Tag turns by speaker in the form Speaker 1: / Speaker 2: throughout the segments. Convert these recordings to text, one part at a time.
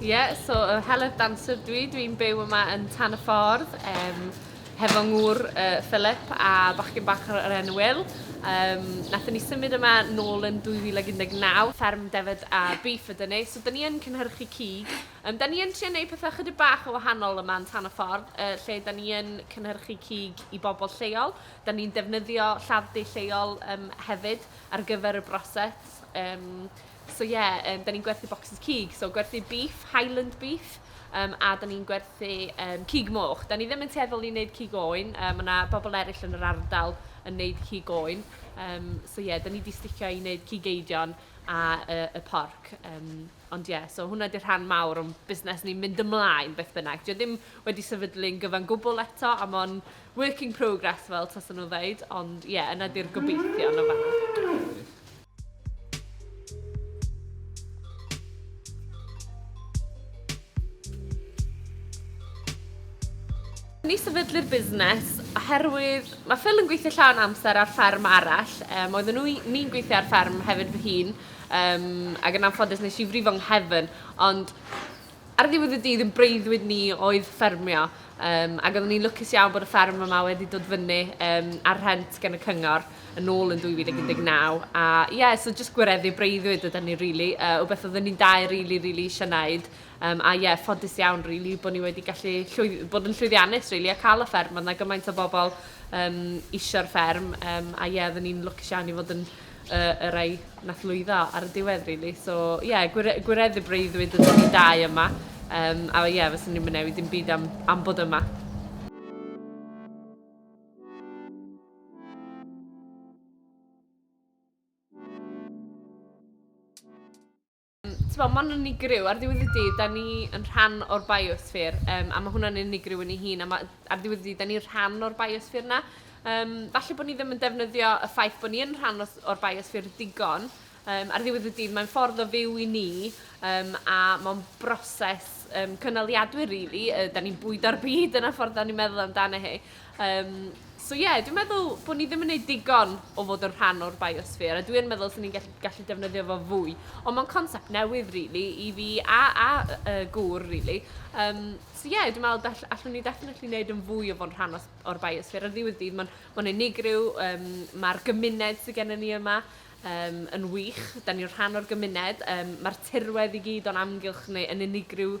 Speaker 1: Ie, yeah, so uh, Heledd Dancer dwi, dwi'n byw yma yn Tan y Ffordd, um, hefo ngŵr uh, Philip a bachgen bach o'r enw Will. Um, nath ni symud yma nôl yn 2019, fferm defyd a beef ydyn ni, so dyn ni yn cynhyrchu cig. Um, dyn ni yn trio neud pethau chydig bach o wahanol yma yn Tan y Ffordd, uh, lle dyn ni yn cynhyrchu cig i bobl lleol. Dyn ni'n defnyddio lladd-du lleol um, hefyd, ar gyfer y broses. Um, so ie, yeah, um, da ni'n gwerthu boxes cig, so gwerthu beef, Highland beef, um, a da ni'n gwerthu um, cig moch. Da ni ddim yn teddol i wneud cig oen, um, mae yna bobl eraill yn yr ardal yn wneud cig oen. Um, so ie, yeah, da ni wedi sticio i wneud cig eidion a uh, y porc. Um, ond ie, yeah, so hwnna ydy'r rhan mawr o'n busnes ni'n mynd ymlaen beth bynnag. Dio ddim wedi sefydlu'n gyfan gwbl eto, am o'n work in progress fel tasa nhw'n ddeud, ond ie, yeah, yna di'r gobeithio yna fanna. Ni sefydlu'r busnes oherwydd mae Phil yn gweithio llawn amser ar fferm arall. Um, oedden nhw, ni'n gweithio ar fferm hefyd fy hun, um, ac yn anffodus nes i frifo nghefn, ond Ar ddiwedd y dydd, ein breuddwyd ni oedd ffermio yym ac oeddwn i'n lwcus iawn bod y fferm yma wedi dod fyny yym ar rhent gan y cyngor yn ôl yn 2019 a ie, so jyst gwireddu breuddwyd yda ni rili, yy rywbeth oeddwn ni'n dau rili, rili eisiau wneud yym a ie, ffodus iawn rili bod ni wedi gallu llwy- bod yn llwyddiannus rili a cael y fferm, oedd 'na gymaint o bobl yym isio'r fferm yym a ie, oeddwn ni'n lwcus iawn i fod yn y y rei nath lwyddo ar y diwedd rili so ie gwire- gwireddu breuddwyd ydyn ni dau yma yym a ie fyswn i'm yn newid dim byd am am bod yma. T'bo, ma'n unigryw. Ar ddiwedd y dydd, 'da ni yn rhan o'r biosphere, yym, a ma' hwnna'n unigryw yn ei hun, a ma'... ar ddiwedd y dydd, 'da ni'n rhan o'r biosphere 'na. Yym, falle bod ni ddim yn defnyddio y ffaith bod ni yn rhan os- o'r biosphere digon. Yym, ar ddiwedd y dydd, mae'n ffordd o fyw i ni, yym, a ma' o'n broses, yym, cynaliadwy rili, yy, 'da ni'n bwydo'r byd, dyna ffordd 'da ni'n meddwl amdano hi. Yym, so ie, dwi'n meddwl bod ni ddim yn gwneud digon o fod yn rhan o'r biosphere, a dwi yn meddwl sy'n ni'n gallu, gallu defnyddio fo fwy. Ond mae'n concept newydd, really, i fi a, a uh, gŵr, really. Um, so ie, yeah, dwi'n meddwl all, allwn ni definitely wneud yn fwy o fo'n rhan o'r biosphere. Ar ddiwedd dydd, mae'n ma unigryw, um, mae'r gymuned sydd gennym ni yma, um, yn wych, da ni'n rhan o'r gymuned, um, mae'r tirwedd i gyd o'n amgylch neu yn unigryw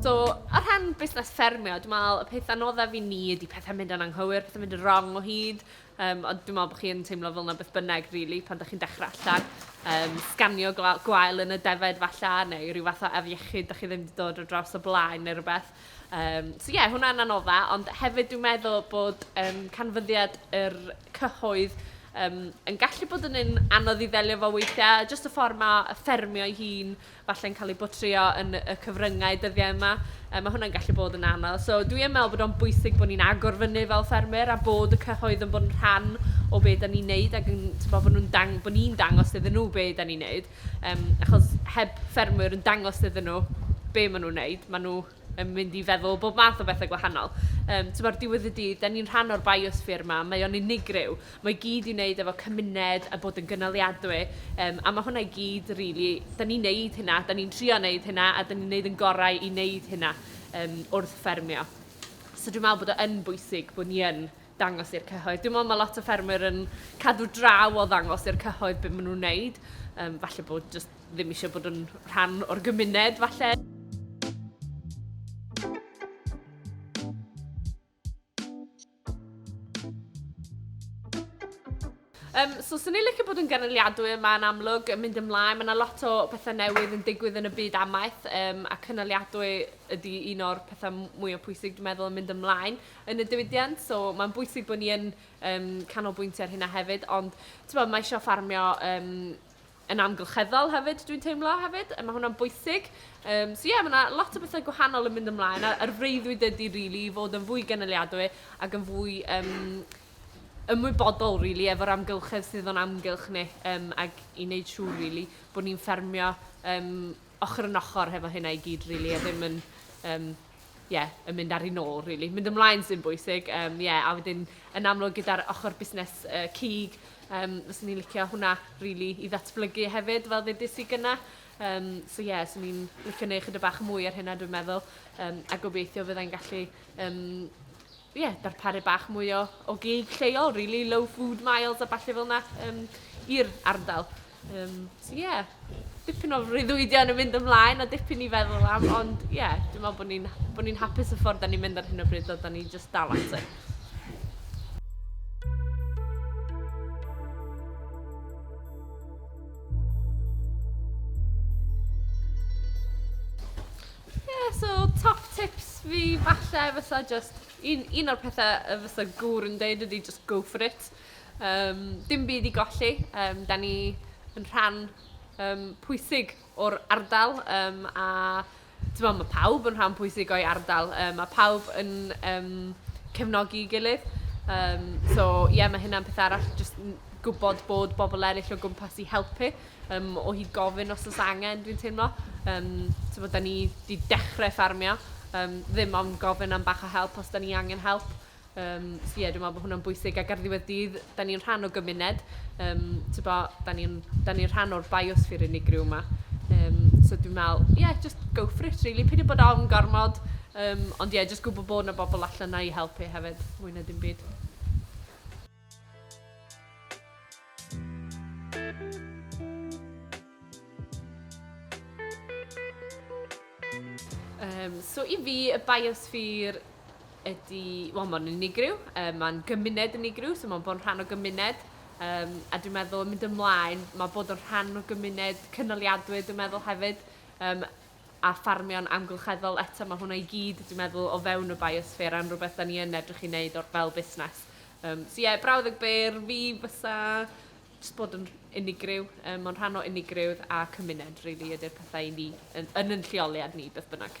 Speaker 1: So, ar rhan busnes ffermio, dwi'n meddwl y peth anoddaf i ni ydy pethau mynd yn anghywir, pethau mynd yn wrong o hyd. Um, ond dwi'n meddwl bod chi'n teimlo fel yna beth bynnag, really, pan ydych chi'n dechrau allan. Um, sganio gwael yn y defaid falle, neu rhyw fath o afiechyd, da chi ddim wedi dod o draws o blaen neu rhywbeth. Um, so ie, yeah, hwnna'n anodda, ond hefyd dwi'n meddwl bod um, canfyddiad yr cyhoedd um, yn gallu bod yn un anodd i ddelio fo weithiau, jyst y ffordd mae y ffermio ei hun falle'n cael ei botrio yn y cyfryngau dyddiau yma, um, mae hwnna'n gallu bod yn anodd. So dwi'n meddwl bod o'n bwysig bod ni'n agor fyny fel ffermwyr a bod y cyhoedd yn bod yn rhan o beth da ni'n neud ac yn, bod nhw'n dang, bod ni'n dangos iddyn nhw beth da ni'n neud. Yym achos heb ffermwyr yn dangos iddyn nhw be maen nhw'n wneud, maen nhw yn mynd i feddwl bob math o bethau gwahanol. Yym timod, ar diwedd y dydd, dan ni'n rhan o'r biosphere 'ma, mae o'n unigryw. Mae i gyd i wneud efo cymuned a bod yn gynaliadwy. Yym a ma' hwnna i gyd rili, dan ni'n wneud hynna, dan ni'n trio wneud hynna a dan ni'n wneud ein gorau i wneud hynna yym wrth ffermio. So dwi'n meddwl bod o yn bwysig bod ni yn dangos i'r cyhoedd. Dwi'n meddwl mae lot o ffermwyr yn cadw draw o ddangos i'r cyhoedd beth maen nhw'n wneud. Um, falle bod just ddim eisiau bod yn rhan o'r gymuned, falle. Yym, so 'sen ni'n licio bod yn gynaliadwy yma yn amlwg, yn mynd ymlaen. Mae 'na lot o bethau newydd yn digwydd yn y byd amaeth, yym, a cynaliadwy ydi un o'r petha m- mwya pwysig, dwi'n meddwl, yn mynd ymlaen yn y diwydiant. So mae'n bwysig bod ni yn yym canolbwyntio ar hynna hefyd. Ond, timod, mae isio ffarmio yym... yn amgylcheddol hefyd dwi'n teimlo hefyd, mae hwnna'n bwysig. Um, so ie, yeah, mae yna lot o bethau gwahanol yn mynd ymlaen a, a'r freuddwyd ydy rili really, i fod yn fwy gynaliadwy ac yn fwy um, ymwybodol rili really, efo'r amgylchedd sydd o'n amgylch ni um, ac i wneud siŵr rili really, bod ni'n ffermio um, ochr yn ochr hefo hynna i gyd rili a ddim yn yym ie yn mynd ar ei nôl rili. Mynd ymlaen sy'n bwysig yym ie a wedyn yn amlwg gyda'r ochr busnes yy cig yym fyswn i'n licio hwnna rili i ddatblygu hefyd fel ddedais i gynna'. Yym so ie 'swn i'n licio neu' chydig bach mwy ar hynna dwi'n meddwl yym a gobeithio fyddai'n gallu yym ie, darparu bach mwy o, o gig lleol, really, low food miles a falle fel yna um, i'r ardal. Um, so ie, yeah, dipyn o rhyddwydion yn mynd ymlaen a dipyn i feddwl am, ond ie, yeah, dwi'n meddwl bod ni'n bo ni hapus y ffordd da ni'n mynd ar hyn o bryd, a da ni just dal at it. Ie so top tips fi falle fysa jyst un un o'r pethe yy fysa gŵr yn deud ydi jyst go for it yym dim byd i golli yym 'dan ni yn rhan yym pwysig o'r ardal yym a t'mo' ma' pawb yn rhan pwysig o'i ardal yym ma' pawb yn yym cefnogi'i gilydd yym so ie ma' hynna'n peth arall jyst n- gwbod bod bobol eryll o gwmpas i helpu. um, o hyd gofyn os oes angen, dwi'n teimlo. Um, Teimlo, da ni wedi dechrau ffarmio, um, ddim ond gofyn am bach o help os da ni angen help. Um, so ie, yeah, dwi'n meddwl bod hwnna'n bwysig ac ar ddiwedd dydd, da ni'n rhan o gymuned. Um, Teimlo, da ni'n ni rhan o'r biosphere unigryw yma. Um, so dwi'n meddwl, ie, yeah, just go for it, really. Peidio bod ofn gormod, um, ond ie, yeah, just gwybod bod yna bobl allan na i helpu hefyd, mwy na dim byd. Um, so i fi, y biosphere ydy, wel mae'n unigryw, um, mae'n gymuned unigryw, so mae'n bod yn rhan o gymuned, um, a dwi'n meddwl yn mynd ymlaen, mae bod yn rhan o gymuned cynaliadwy, dwi'n meddwl hefyd, um, a ffarmio'n amgylcheddol, eto mae hwnna i gyd dwi'n meddwl o fewn y biosphere a'n rhywbeth da ni yn edrych i wneud o'r fel busnes. Um, so ie, yeah, brawddeg byr fi fysa just bod yn unigryw, um, mae'n rhan o unigryw a cymuned rili really, ydy'r pethau i ni yn, yn yn lleoliad ni beth bynnag.